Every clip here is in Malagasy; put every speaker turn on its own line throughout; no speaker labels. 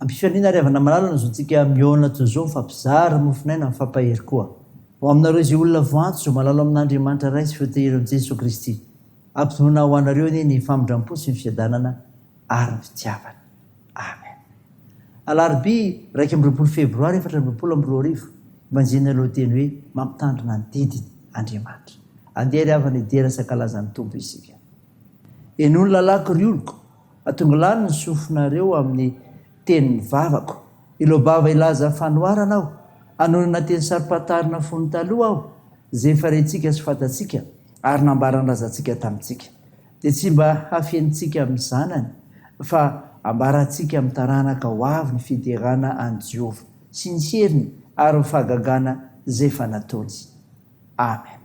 Ampifaliana ry havana malala ny zontsika mihaona toy izao mifampizara mofon'aina mifampahery koa. Ho aminareo izay olona voantso izao malalo amin'Andriamanitra Ray sy feo tehirin'i Jesoa Kristy. Ampitonoina ho anareo anie ny famindrampo sy ny fiadanana ary ny fitiavany. Amen. Alarobia iraika amby roapolo febroary efatra amby roapolo amby roa arivo, Evanjelin'ny aloha teny hoe mampitandrina ny didiny Andriamanitra. Andeha ry havana hidera sankalaza ny Tompo isika. Eny hoy ny lalàko ry oloko, Atongo lany ny sofinareo amin'ny tenin'ny vavako. Ilobava hilaza fanoharana aho, hanonona teny saro-pantarina fony taloha aho, izay efa rentsika sy fantatsika ary nambaran-drazantsika tamintsika. Dia tsy mba hafenintsika amin'ny zanany, fa hambarantsika amin'ny taranaka ho avy ny fiderana an'i Jehovah sy ny heriny ary ny fahagagana izay efa nataony. Amen.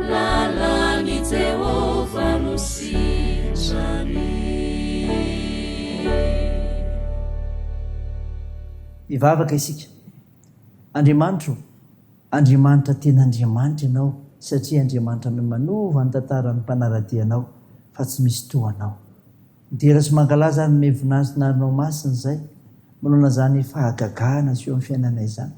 Lalan'i Jehovah no sitrany.
Hivavaka isika. Andriamanitro ô, Andriamanitra tena Andriamanitra Ianao, satria Andriamanitra no manova ny tantaran'ny mpanara-dia Anao, fa tsy misy toa Anao. Midera sy mankalaza ary miha voninahitry ny arinao masina izay manaona izany fahagagana aseho amin'ny fiainanay izany.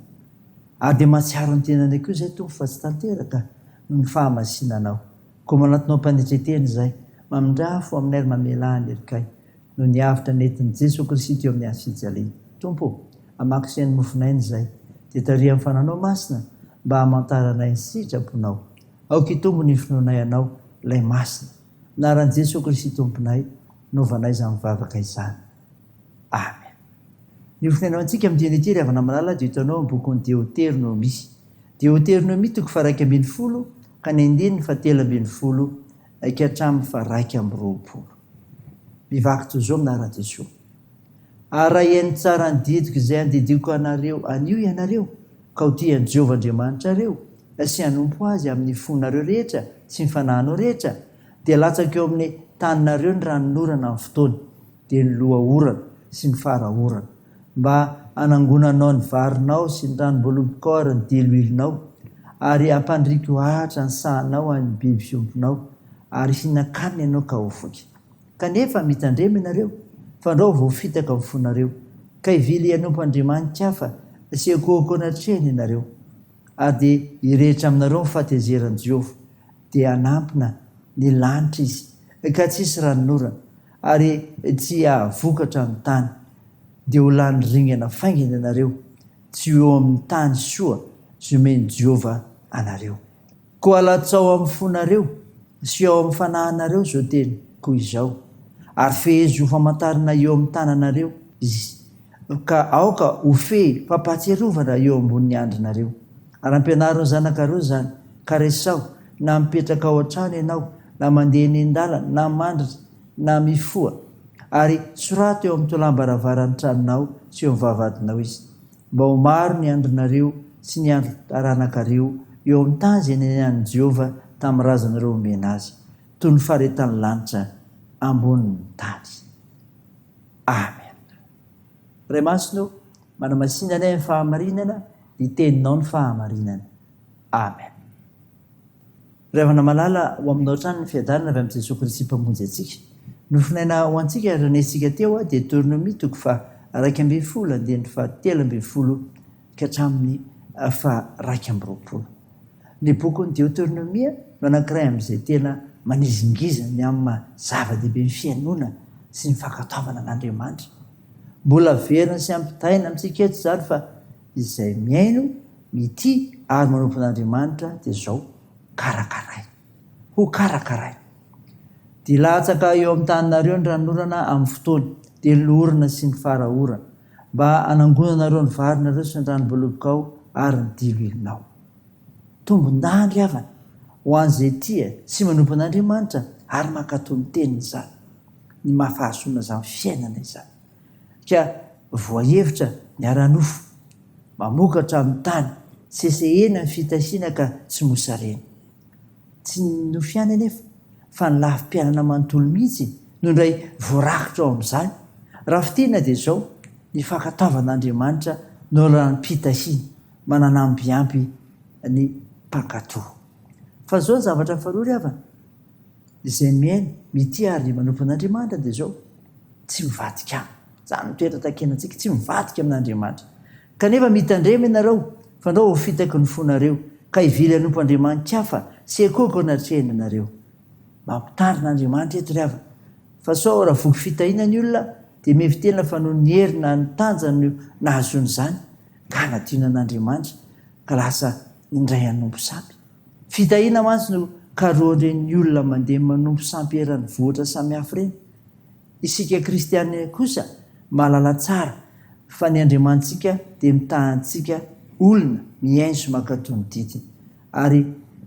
Ary dia mahatsiaro ny tenanay koa izay Tompo fa tsy tanteraka noho ny fahamasinanao. Koa manatona ho mpanetren-tena izay mamindrà fo aminay ary mamelà ny helikay noho ny avotra nentin'i Jeso Kristy teo amin'ny hazo fijaliana. Tompo ô, hamakiseha ny mofon'aina izay, dia tariho amin'ny Fanahinao Masina mba hamantaranay ny sitraponao. Aoka hitombo ny finoanay Anao, Ilay Masina. Anaran'i Jesoa Kristy Tomponay no vanaiza mivavaka izany. Amen. Ny ho fitenenao antsika amin'ny dieny ity ry havana malala dia eto anao amin'ny bokin'ny Deoternomia. Deoternomia toko faharaika ambin'ny folo ka ny andininy fahatelo ambin'ny folo ka hatramin'ny faharaika amby roapolo. Mivaky toy izao amin'ny anaran'i Jesoa. Araheno tsara ny didiko izay andidiako anareo anio ianareo, ka ho tia an'i Jehovah Andriamanitrareo sy hanompo azy amin'ny fonareo rehetra sy ny fanahinao rehetra, dia latsaka eo amin'ny taninareo ny ranon'orana amin'ny fotoany, dia ny loha-orana sy ny fara-orana, mba hanangonanao ny varinao sy ny ranom-boaloboka ary ny diloilonao, ary hampandriko ahatra ny sahanao amin'ny biby fiompinao, ary hihinan-kanina ianao ka ho voky. Kanefa mitandrema ianareo, fandrao voafitaka ny fonareo, ka hivily hanompo andriamanitra hafa sy hiankohoka eo anatrehany ianareo, ary dia hirehitra aminareo ny fahatezeran'i Jehovah, dia hanampina ny lanitra izy, ka tsy hisy ranon'orana, ary tsy hahavokatra ny tany, dia ho lany ringana faingana ianareo, tsy ho eo amin'ny tany soa zomen'i Jehovah anareo. Koa latsao amin'ny fonareo sy ao amin'ny fanahinareo izao teny, koa izao, ary fehezo ho famantarana eo amin'ny tananareo izy, ka aoka ho fehy fampahatsiarovana eo ambonin'ny andrinareo. Ary ampianaro ny zanakareo izany, ka resaho, na mipetraka ao an-trano ianao, na mandeha eny an-dalana, na mandritra, na mifoha, ary soraty eo amin'ny tolam-baravaran'ny tranonao sy eo amin'ny vavahadinao izy. Mba ho maro ny andrinareo sy ny andrin'ny taranakareo eo amin'ny tany izay niainan'i Jehovah tamin'ny razanareo omena azy, toy ny faharetan'ny lanitra ambonin'ny tany. Amen. Ray Masina ô, manamasina anay amin'ny fahamarinana, ny Teninao ny fahamarinana. Amen. Ry havana malala, ho aminao hatrany ny fiadanana avy amin'i Jesoa Kristy Mpamonjy antsika. Nofonaina ho antsika ary renesintsika teo Deteronomia toko faha iraika ambin'ny folo andininy faha telo ambin'ny folo ka hatramin'ny faha iraika amby roapolo. Ny bokin'i Deoteronomia no anankiray amin'izay tena manizingizina ny amin'ny maha zava-dehibe ny fihainoana sy ny fankatoavana an'Andriamanitra. Mbola averina sy ampitaina amintsika eto izany fa Izay mihaino, mitia ary manompo an'Andriamanitra dia izao, Karakaraina. Ho karakaraina. Dia latsaka eo amin'ny taninareo ny ranonorana amin'ny fotoany, dia ny loholona sy ny fara orana, mba hanangonanareo ny varinareo sy ny ranom-bolobokao ary ny diloilinao. Tombon-dandry havana ho an'izay tia sy manompo an'Andriamanitra ary mankatò ny teniny izany, ny maha fahazoana izany fiainana izany. Ka voahevitra ny ara-nofo mamokatra amin'ny tany sesehena ny fitahiana ka tsy mosarena. Tsy ny nofo ihany anefa fa ny lafim-piainana manontolo mihitsy no indray voarakitra ao amin'izany, raha fintinina dia izao, ny fankatoavan'Andriamanitra no ranom-pitahiana mananambiampy ny mpankato. Fa izao ny zavatra faharoa ry havana. Izay mihaino, mitia ary manompo an'Andriamanitra dia izao, tsy mivadika aminy. Izany no toetra takinantsika, tsy mivadika amin'Andriamanitra. Kanefa mitandrema ianareo, fandrao ho fitaky ny fonareo, ka hivily hanompo andriamani-kafa sy hekoko ny atrehiny ianareo. Mampitarina Andriamanitra eto ry havana, fa sao raha voky fitahiana ny olona, dia mihevi-tena fa noho ny hery na ny tanjany no nahazoany izany, ka hanadino an'Andriamanitra, ka lasa indray hanompo sampy. Fitahina mantsy no karohan'ireny olona mandeha manompo sampy eran'ny vohitra samihafa ireny. Isika kristiana kosa mahalala tsara fa ny Andriamanitsika dia mitaha antsika olona mihaino mankatò ny didiny, ary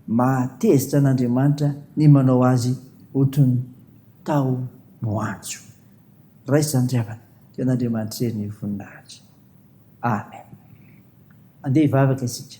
mahatezitra an'Andriamanitra ny manao azy ho toy ny taho moanjo. Raisiny ry havana, dia an'Andriamanitra irery ny voninahitra. Amen. Andeha hivavaka isika.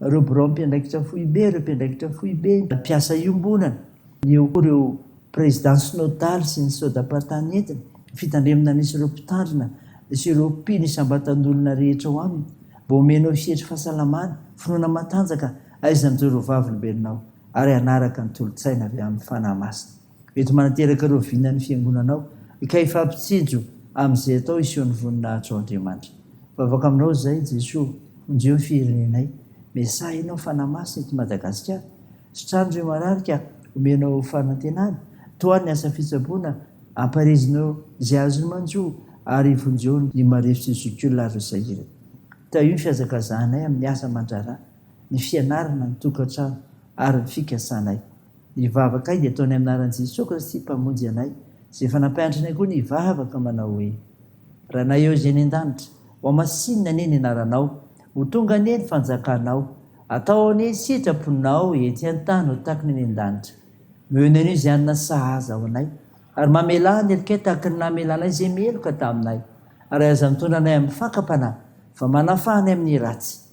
ireo biraom-piandraikitra foibe, ireo mpiandraikitra foibe, ny mpiasa iombonana, eo koa ireo présidents synodales sy ny sodapata nentiny, ny fitandremana misy ireo mpitandrina sy ireo mpino isam-batan'olona rehetra ao aminy, mba omenao sehatry fahasalamana, finoana matanjaka, aizan'ireo vavolombelonao, ary hanaraka ny tolo-tsaina avy amin'ny Fanahy Masina. Mety manateraka ireo vina ny fiangonana ao, ka hifampitsinjo amin'izay atao hisehoan'ny voninahitro ao Andriamanitra. Mivavaka aminao izahay, Jesoa, vonjeo ny firenenay. Mesaha ianao fanahy-masina eto Madagasikara. Sitrano ireo marary ka omenao fanantenana. Tohano ny asa fitsaboana, ampaherezinao izay azony manjo ary vonjeo ny marefo sy ny zokiolona ary ny sahirana. Tahio ny fihazakazahanay amin'ny asa aman-draharaha, ny fianarana, ny tokantrano ary ny fikasanay. Ny vavakay dia ataonay amin'ny anaran'i Jesoa Kristy Mpamonjy anay, izay efa nampianatra anay koa ny hivavaka manao hoe, Ranay ao izay any an-danitra, ho hamasinina anie ny anaranao, ho tonga anie ny fanjakanao, atao anie ny sitraponao ety an-tany ho tahaka ny any an-danitra. Nomenay anio izay hanina sahaza ho anay, ary mamelà ny helokay tahaka ny namelanay izay meloka taminay, ary aza mitondra anay amin'ny fakam-panahy, fa manafaha anay amin'ny ratsy.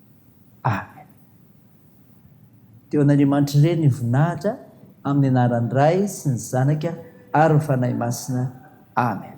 Amen. Dia ho an'Andriamanitry Re ny voninahitra amin'ny anaran'ny Ray sy ny Zanaka ary ny Fanahy Masina. Amen.